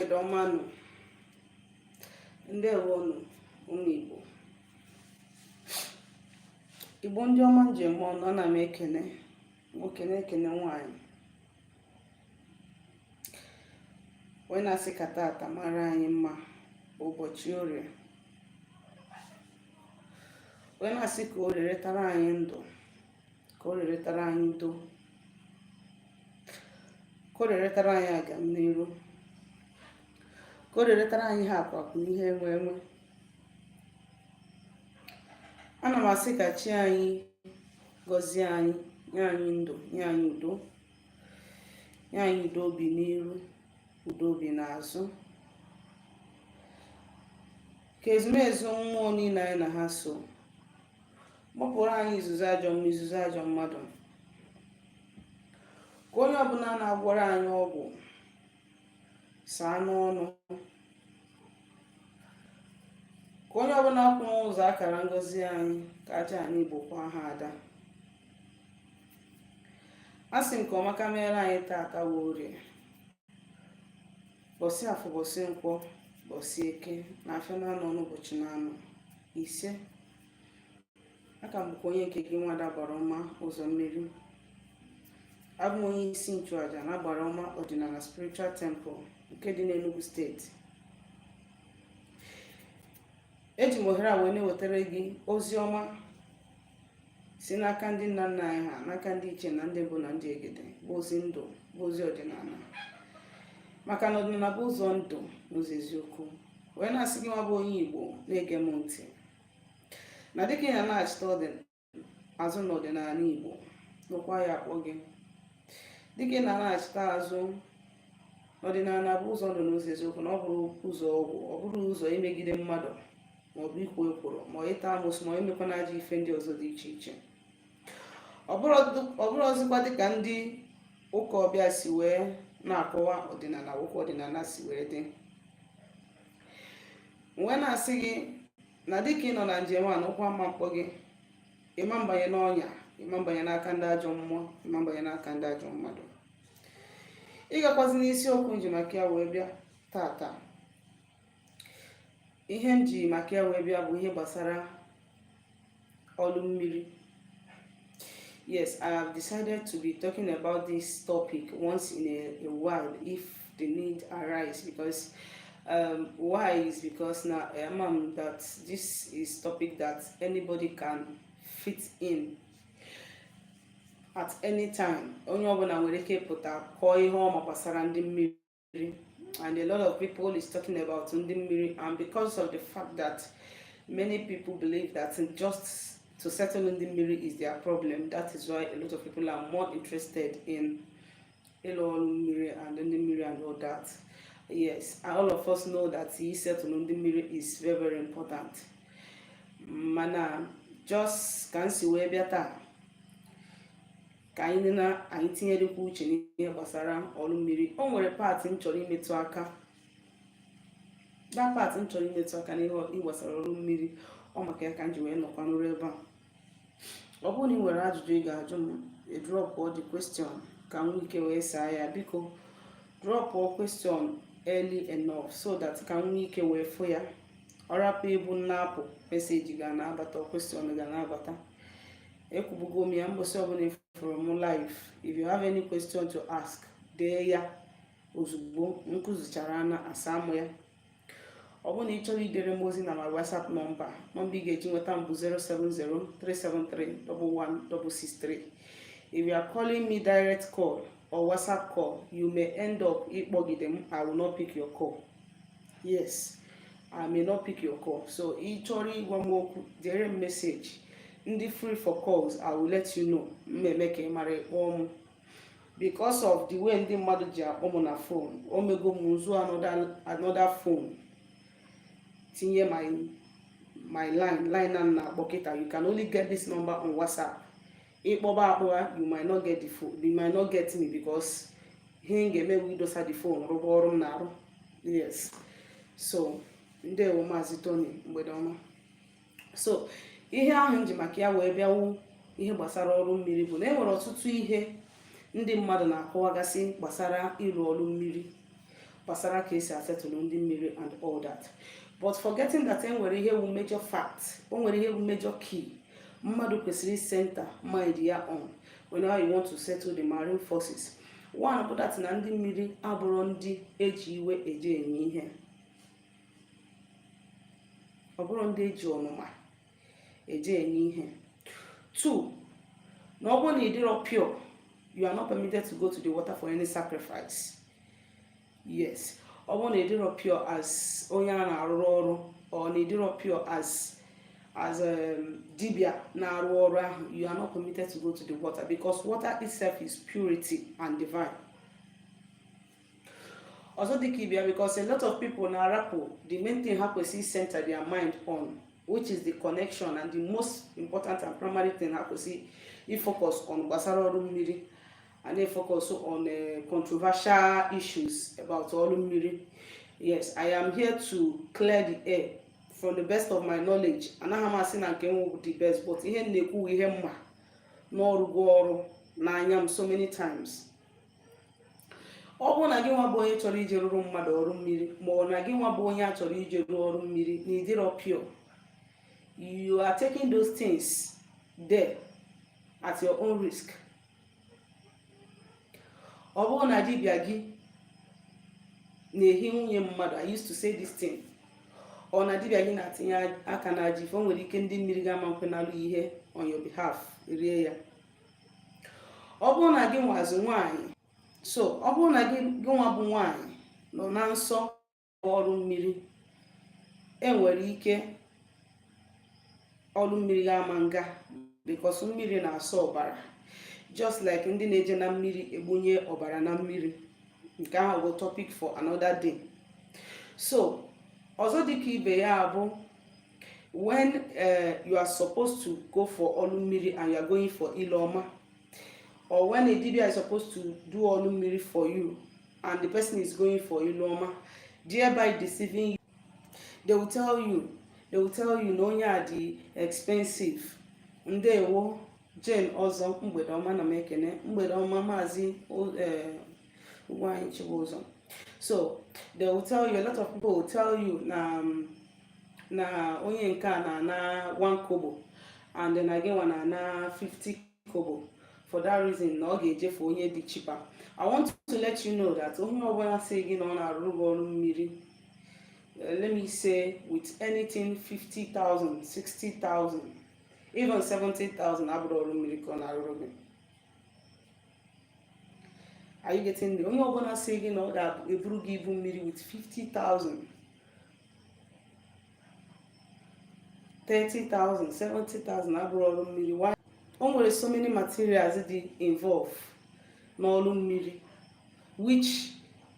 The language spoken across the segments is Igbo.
mgbede ọma nụ ndewo nụ ụmụ igbo igbo ndị ọma nji eme ọnụ ana m ekene nwoke na-ekene nwaanyị wee na-asị ka tata mara anyị mma ụbọchị orie wee na-asị ka orie rietara anyị ndụ ka orie rietara anyị udo ka orie rietara anyị agamniru ka orie rietara anyị ihe akụ akụ ihe enwe enwe ana m asị ka chi anyị gọzie anyị nye anyị ndụ nye anyị udo nye anyị udo obi n'iru udo obi n'azụ ka ezumezu mmụọ niile anyị na ha so gbapụrụ anyị izuzu ajọ mmụọ izuzu ajọ mmadụ ka onye ọbụla na-agwọrọ anyị ọgwụ saa n'ọnụ ka onye ọbụla kwụ n'ụzọ akara ngozi anyị ka aja anyị bụ kwa ha ada a sị nke ọma ka meere anyị taata bụ orie mbọsị afọ mbọsị nkwọ mbọsị eke na afịa naanọ na ụbọchị naanọ isee aka m bụkwa onye nke gị nwada agbara ọma ụzọ mmiri abụ m onye isi nchụaja na agbara ọma ọdịnala spiritual temple nke dị n'Enugu steeti eji m ohere a wee na-ewetara gị ozi ọma si n'aka ndị nna nna anyị ha n'aka ndị ichie na ndị mbụ na ndị egede bụ ozi ndụ bụ ozi ọdịnala maka na ọdịnala bụ ụzọ ndụ na ụzọ eziokwu wee na-asị gị nwa bụ onye igbo na-ege m ntị na dịka ị na-anachita ọdịnala azụ n'ọdịnala Igbo na ụkwụ aya akpọ gị dịka ị na-anachita azụ n'ọdịnala bụ ụzọ ndụ na ụzọ eziokwu na ọ bụrọ ụzọ ọgwụ ọ bụrọ ụzọ imegide mmadụ maọbụ ikwo ekworo maọbụ ịta amusu maọbụ imekwa na ajọ ife ndị ọzọ dị iche iche ọ bụrọzikwa dịka ndị ụka ọbịa si wee na-akọwa ọdịnala bụ ka ọdịnala si wee dị wee na-asị gị na dịka ị nọ na njem a na ụkwụ ama mkpọ gị ị ma mbanye n'ọnya ị ma mbanye n'aka ndị ajọ mmụọ ị ma mbanye n'aka ndị ajọ mmadụ ịgakwazi n'isiokwu nji maka ya wee bịa tata ihe m ji maka ya wee bịa bụ ihe gbasara ọlụ mmiri yes i have decided to be talking about this topic once in a while if the need arise because um, why is because now um, um, that this is topic that anybody can fit in at any time onye ọbụla nwere ike pụta kọọ ihe ọ ma gbasara ndị mmiri and a lot of people is talking about ndị mmiri and because of the fact that many people believe that just to settle ndị mmiri is their problem that is why a lot of people are more interested in ịlụ ọrụ mmiri and ndị mmiri and all that yes all of us know that isettle ndị mmiri is very very important mana just ka m si wee bịa taa ka anyị na anyị tinyerikwa uche n'ihe gbasara ọrụ mmiri o nwere part m chọrọ imetụ aka that part m chọrọ imetụ aka n'ihe gbasara ọrụ mmiri ọ maka ya ka m ji wee nọkwa n'ụrụ ebe a ọ bụrụ na ị nwere ajụjụ ị ga-ajụ m drop the question ka m nwee ike wee saa ya biko drop question early enough so that ka m nwee ike wee fụ ya ọ rapụ ịbụ m na-apụ message ga na-abata question ga na-abata ekwubugo m ya mbọsị ọbụla ị fụrụ m live if you have any question to ask dee ya ozugbo m kụzichara na asaa mụ ya ọ bụrụ na ị chọrọ idere m ozi na my whatsapp nọmba nọmba ị ga-eji nweta m bụ 07037311163 if you are calling me direct call or whatsapp call you may end up ịkpọgide m i will not pick your call yes i may not pick your call so ị chọrọ ịgwa m okwu dere m message m dị free for calls i will let you know m emee ka ị mara ị kpọọ m because of the way ndị mmadụ ji akpọ m na phone o mego m m zụọ another phone tinye my my line line na m na-akpọ kịta you can only get this number on whatsapp ị kpọba akpọba you might not get the phone you might not get me because ihe m ga-eme bụ idosa the phone rụba ọrụ m na-arụ yes so ndewo maazị Tony mgbede ọma so ihe ahụ m ji maka ya wee bịa wu ihe gbasara ọrụ mmiri bụ na e nwere ọtụtụ ihe ndị mmadụ na-akọwagasị gbasara ịrụ ọrụ mmiri gbasara ka esi asetụlụ ndị mmiri and all that but forgetting that e nwere ihe wu major fact o nwere ihe wu major key mmadụ kwesịrị center mind ya on whenever you want to settle the marine forces one bụ that na ndị mmiri abụrọ ndị eji iwe eje enye ihe ọ bụrọ ndị eji ọnụma eje enye ihe two na ọ bụrụ na ị dịrọ pure you are not permitted to go to the water for any sacrifice yes ọ bụrụ na ị dịrọ pure as onye a na-arụrụ ọrụ or na ị dịrọ pure as as um, dibia na-arụ ọrụ ahụ you are not permitted to go to the water because water itself is purity and divine ọzọ dịka ibe ya because a lot of people na-arapụ the main thing ha kwesịrị center their mind on which is the connection and the most important and primary thing ha kwesịrị ifocus on gbasara ọrụ mmiri and they focus on uh, controversial issues about ọrụ mmiri yes i am here to clear the air from the best of my knowledge anaghị m asị na nke m bụ the best but ihe m na-ekwu ihe m ma na ọ rụgo ọrụ n'anya m so many times ọ bụrụ na gị nwa bụ onye chọrọ ije rụrụ mmadụ ọrụ mmiri ma ọ na gị nwa bụ onye a chọrọ ije rụọ ọrụ mmiri na ị dịrọ pure you are taking those things there at your own risk ọ bụrụ na dibịa gị na-ehi nwunye mmadụ i used to say this thing ọ na dibịa gị na-atinye aka n'ajọ ife o nwere ike ndị mmiri ga-ama nkwe nalụ ihe on your behalf rie ya ọ bụrụ na gị nwazi nwaanyị so ọ bụrụ na gị nwa bụ nwaanyị nọ na nsọ ọrụ mmiri e nwere ike ọrụ mmiri ga-ama nga because mmiri na-asọ ọbara just like ndị na-eje na mmiri egbunye ọbara na mmiri nke ahụ bụ topic for another day so ọzọ dịka ibe ya bụ when uh, you are supposed to go for ọlụ mmiri and you are going for ile ọma or when a dibia is supposed to do ọlụ mmiri for you and the person is going for ile ọma thereby deceiving you they will tell you they will tell you na onye a dị expensive ndewo jane ọzọ mgbede ọma na m ekene mgbede ọma maazị ugwuanyi chibuzọ so they will tell you a lot of people will tell you na um, na onye nke a na-ana 1 kobo and na gị nwa na-ana 50 kobo for that reason na ọ ga-eje for onye dị cheaper i want to let you know that onye ọbụla sị gị na ọ na-arụrụ gị ọrụ mmiri eh, let me say with anything 50,000 60,000 even 70,000 abụrọ ọrụ mmiri ka ọ na-arụrụ gị are you getting me onye ọbụla sị gị na ọ ga-eburu gị ibu mmiri with 50,000 30,000 70,000 abụrọ ọrụ mmiri o nwere so many materials dị involve n'ọrụ mmiri which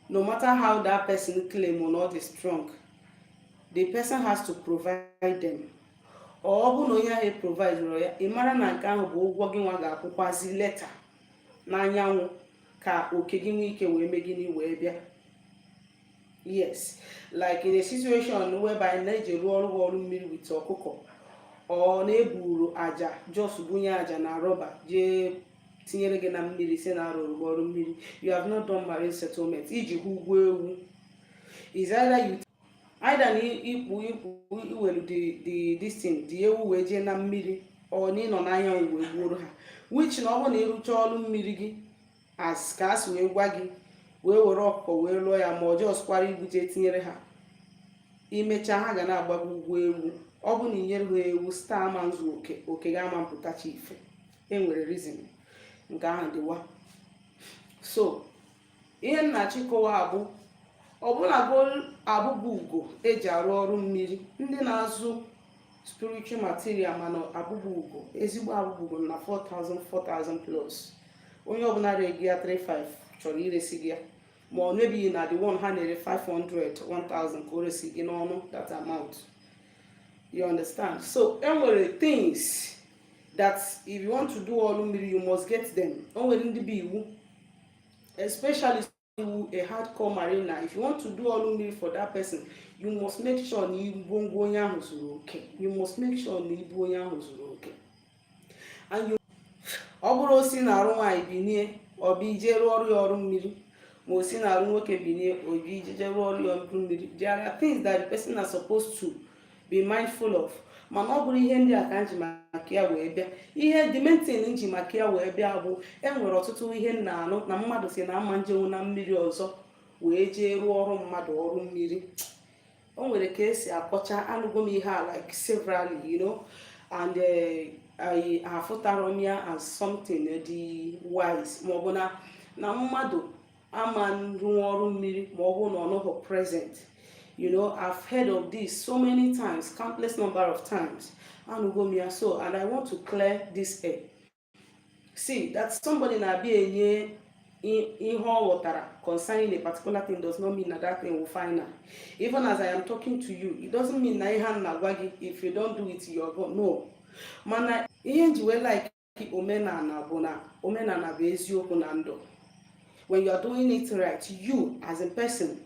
no matter how that person claim na ọ dị strong the person has to provide them ọ bụ na onye ahụ providerọ ya ị mara na nke ahụ bụ ụgwọ gị nwa ga-akwụkwazi later n'anyanwụ ka oke gị nwee ike wee mee gịnị wee bịa yes like in a situation whereby na ejee rụọrọ gị ọrụ mmiri with ọkụkọ or na-eburu aja just bunye aja na rọba jee tinyere gị na mmiri si na arụrụ ọrụ mmiri you have not done marine settlement iji ha ụgwọ ewu is either you either na ịkpụ ịkpụ iwelu the distin the ewu wee jee na mmiri or na ịnọ n'anya wee gbuoro ha which na ọ bụrụ na ịrụcha ọrụ mmiri gị as ka a si wee gwa gị wee were ọkụkọ wee lụọ ya ma ọ just kwara ibute tinyere ha imechaa ha ga na-agba gị ụgwọ ewu ọ bụ na inyerọ ha ewu star ama nzu oke oke gị ama mpụtacha ife enwere reason nke ahụ dịwa so ihe m na-achọ ịkọwa bụ ọbụlagodi abụbụ ugo eji arụ ọrụ mmiri ndị na-azụ spiritual material mana abụbụ ugo ezigbo abụbụ ugo na 4000 4000 plus onye ọbụla re gị ya 35 chọrọ iresi gị ya ma ọ nebighị na the one ha na-ere 500 1000 ka o resi gị n'ọnụ that amount you understand so enwere things that if you want to do ọrụ mmiri you must get them o nwere ndị bụ iwu especially iwu a hardcore mariner if you want to do ọrụ mmiri for that person you must make sure na ngwongwo onye ahụ zuru oke you must make sure na ibu onye ahụ zuru oke and you ọ bụrọ o si n'arụ nwaanyị binie ọ bụ ije rụọrọ ya ọrụ mmiri ma o si n'arụ nwoke binie ọ bụ ije rụọrọ ya ọrụ mmiri there are things that the person is supposed to be mindful of mana ọ bụrọ ihe ndị a ka m ji maka ya wee bịa ihe the main thing m ji maka ya wee bịa bụ enwere ọtụtụ ihe m na-anụ na mmadụ si na ama njenwu na mmiri ọzọ wee jee rụọrọ mmadụ ọrụ mmiri o nwere ka esi akọcha anụgo m ihe a like severally you know and eh, afụtarọ m ya as something dị wise maọbụ na na mmadụ ama rụọ ọrụ mmiri ma ọ bụrụ na ọ nọghị present you know i've heard of this so many times countless number of times anụgo m ya so and i want to clear this air see that somebody na-abịa enye ihe ọ ghọtara concerning a particular thing does not mean na that thing wụ final even as i am talking to you it doesn't mean na ihe a m na-agwa gị if you don't do it you are gone no mana ihe m ji wee like omenala bụ na omenala bụ eziokwu na ndụ when you are doing it right you as a person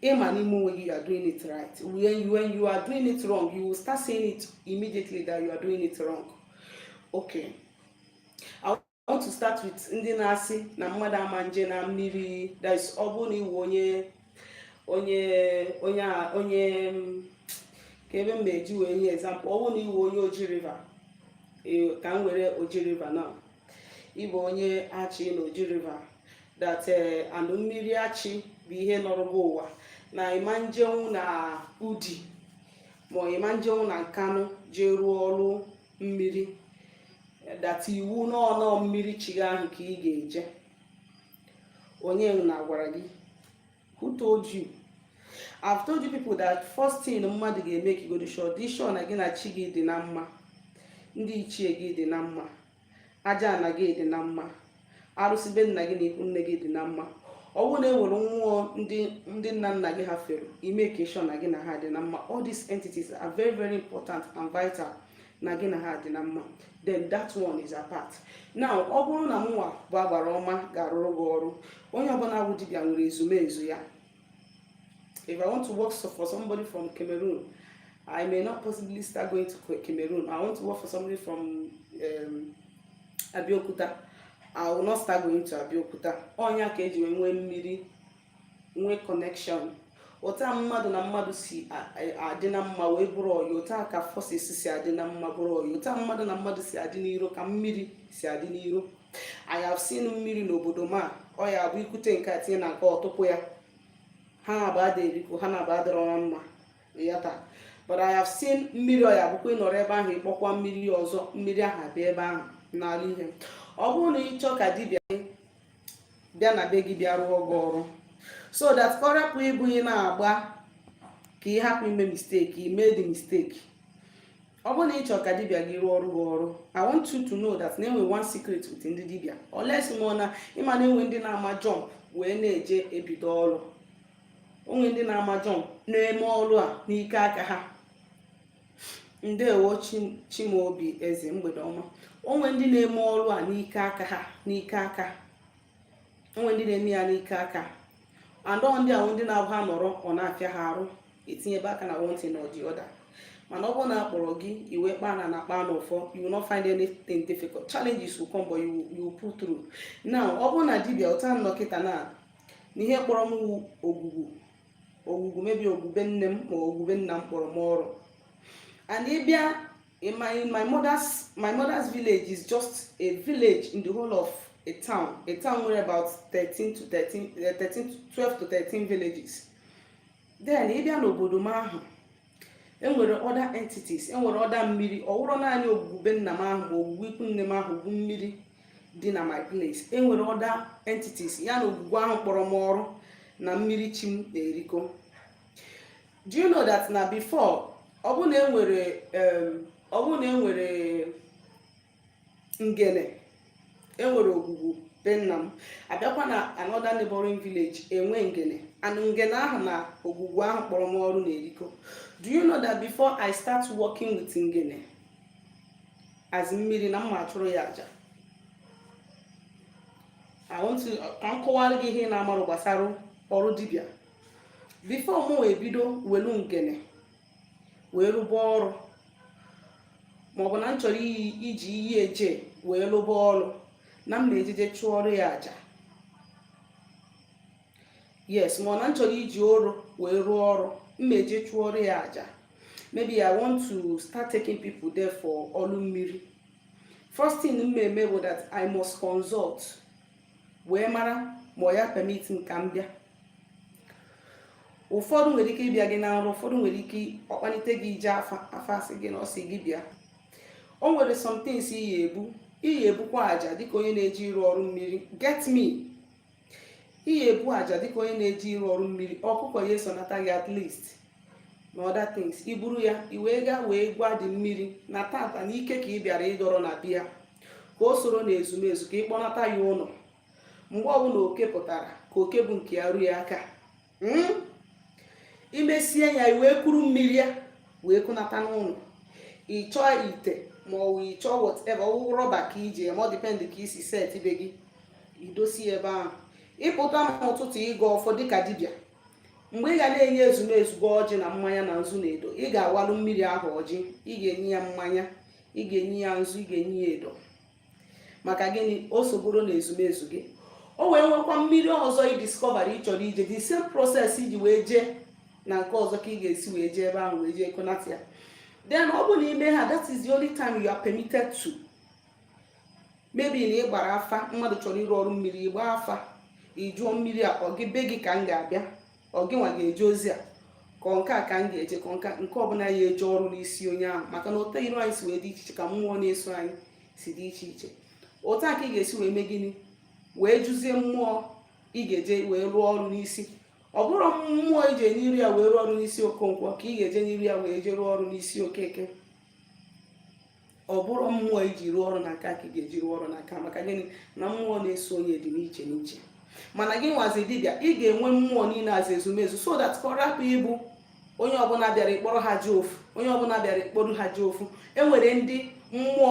ịma n'ime onwe gị you are doing it right when you, when you are doing it wrong you will start seeing it immediately that you are doing it wrong okay I want to start with ndị na-asị na mmadụ ama nje na mmiri that is ọ bụrụ na ị wụ onye onye onye onye ka ebe m na-eji wee nye example ọ bụ na ị wụ onye oji river ka m were oji river now ị bụ onye achị na oji river that eh, and mmiri achị bụ ihe nọrọba ụwa na ị ma njenwu na udi ma ị ma njenwu na nkanụ jee rụọ ọrụ mmiri that iwu n'ọnụ mmiri chi gị ahụ ka ị ga-eje onye na-agwara gị who told you I've told you people that first thing mmadụ ga-emake godu sure dị sure na gị na chi gị dị na mma ndị ichie gị dị na mma aja ana gị dị na mma arụsị be nna gị na ikwu nne gị dị na mma ọ bụrụ na e nwere mmụọ ndị nna nna gị ha fere i make sure na gị na ha dị na mma all these entities are very very important and vital na gị na ha dị na mma then that one is apart now ọ bụrụ na mụnwa bụ agbara ọma ga-arụrụ gị ọrụ onye ọbụla bụ dibịa nwere ezumezu ya if i want to work for somebody from cameroon i may not possibly start going to cameroon i want to work for somebody from um, abeokuta i will not start going to abeokuta ọ nya ka eji wee nwee mmiri nwee connection otu mmadụ na mmadụ si adị na mma wee bụrụ ọyị otu a ka forces si adị na mma bụrụ ọyị otu mmadụ na mmadụ si adị n'iro ka mmiri si adị n'iro I have seen mmiri n'obodo m ọ ya-abụ i kute nke a tinye na nke ọtụpụ ya ha naabọ ada erikọ ha naabọ adịrọ na mma ya taa but I have seen mmiri ọ ya-abụkwa ị nọrọ ebe ahụ ị kpọkwa mmiri ọzọ mmiri ahụ abịa ebe ahụ nara ihe ọ bụrụ na ị chọọ ka dibịa bịa na be gị bịa rụọ gị ọrụ so that ka ọ rapụ ịbụ ihe na-agba ka ị hapụ ime mistake ime the mistake ọ bụrụ na ị chọrọ ka dibịa gị rụọrọ gị ọrụ i want you to know that na enwe one secret with ndị dibịa unless ma na ị ma na enwe ndị na-ama jump wee na-eje ebido ọrụ o nwe ndị na-ama jump na-eme ọrụ a n'ike aka ha ndewo chimaobi eze mgbede ọma o nwe ndị na-eme ọrụ a n'ike aka ha n'ike aka o nwe ndị na-eme ya n'ike aka and ndị a wụ ndị na-abụ ha nọrọ ọ na-afịa ha arụ etinyebe aka na one thing or the other mana ọ bụrụ na a kpọrọ gị i wee kpaa na na kpaa n'ụfọ you will not find anything difficult challenges will come but you, you pull through now ọ bụrụ na dibịa otu a m nọ kịta na n'ihe kpọrọ m ogwugwu ogwugwu maybe ogwugwu be nne m ma ogwugwu be nna m kpọrọ m ọrụ and ị bịa in my in my mother's my mother's village is just a village in the whole of a town a town nwere about 13 to 13 13 12 to 13 villages then ị bịa n'obodo m ahụ enwere other entities enwere other mmiri ọ wụrọ naanị ogwugwu be nna m ahụ ma ogwugwu ikwu nne m ahụ bụ mmiri dị na my place enwere other entities ya na ogwugwu ahụ kpọrọ m ọrụ na mmiri chi m na-erikọ do you know that na before ọ bụ na enwere ngene enwere ogwugwu be nna m abịakwa na another neighboring village enwe ngene and ngene ahụ na ogwugwu ahụ kpọrọ m ọrụ na-erikọ do you know that before i start working with ngene as mmiri na m ma-achụrụ ya aja ka m kọwara gị ihe ị na-amarọ gbasara ọrụ dibịa before mụ wee bido welu ngene wee rụba ọrụ maọbụ na m chọrọ iji iyi eje wee lụba ọrụ na m na-eje je chụọrọ ya aja yes ma ọ na m chọrọ iji oru wee rụọ ọrụ m na-eje chụọrọ ya aja maybe i want to start taking people there for ọlụ mmiri first thing m ma-eme bụ that i must consult wee mara ma ọ ya permit m ka m bịa ụfọdụ nwere ike ịbịa gị na nrọ ụfọdụ nwere ike ọkpanite gị ije afa asị gị na ọ sị gị bịa o nwere some things ị ya-ebu ị ya-ebukwa aja dịka onye na-eje ịrụ ọrụ mmiri get me ị ya-ebu aja dịka onye na-eje ịrụ ọrụ mmiri ọkụkọ ya esonata gị at least na other things iburu ya iwee gaa wee gwa the mmiri na tata na ike ka ị bịara ịdọrọ na bịa ka o soro na ezumezu ka ị kpọnata ya ụnọ mgbe ọbụla oke pụtara ka oke bụ nke ya ruo ya aka hmm? imesie ya i wee kuru mmiri ya wee kụnata n'ụlọ ịchọọ ite ma ọ wụ ịchọọ whatever ọwụ rọba ka iji eme ọ depend ka isi set be gị idosie ebe ahụ ịpụta n'ụtụtụ ịgọọ ọfọ dịka dibịa mgbe ị ga na-enye ezumezu gị ọjị na mmanya na nzu na edo ị ga-awalụ mmiri ahụ ọjị ị ga-enye ya mmanya ị ga-enye ya nzu ị ga-enye ya edo maka gịnị o soboro na ezumezu gị o wee nwekwa mmiri ọzọ ị discover ị chọrọ ije the same process iji wee jee na nke ọzọ ka ị ga-esi wee jee ebe ahụ wee jee kunata ya then ọ bụ na ime ha that is the only time you are permitted to maybe na ị gbara afa mmadụ chọrọ ịrụ ọrụ mmiri ịgbaa afa ịjụọ mmiri a ọ gị be gị ka m ga-abịa ọ gịnwa ga-eje ozi a ka ọ nke a ka m ga-eje ka ọ nke a nke ọbụla ya eje ọrụ n'isi onye ahụ maka na otu iru anyị si wee dị iche iche ka mmụọ na-eso anyị si dị iche iche otu a ka ị ga-esi wee mee gịnị wee jụzie mmụọ ị ga-eje wee rụọ ọrụ n'isi ọ bụrọ mmụọ ije n'iru ya wee rụọ ọrụ n'isi okonkwo ka ị ga-eje n'iru ya wee je rụọ ọrụ n'isi okeke ọ bụrọ mmụọ iji rụọ ọrụ n'aka ka ị ga-eji rụọ ọrụ n'aka maka gịnị na mmụọ na-eso onye dị n'iche n'iche mana gị nwa as dibịa ị ga-enwe mmụọ niile as ezumezu so that ka ọ rapụ ịbụ onye ọbụla bịara ịkpọrọ ha jee ofu onye ọbụla bịara ịkpọrọ ha jee ofu enwere ndị mmụọ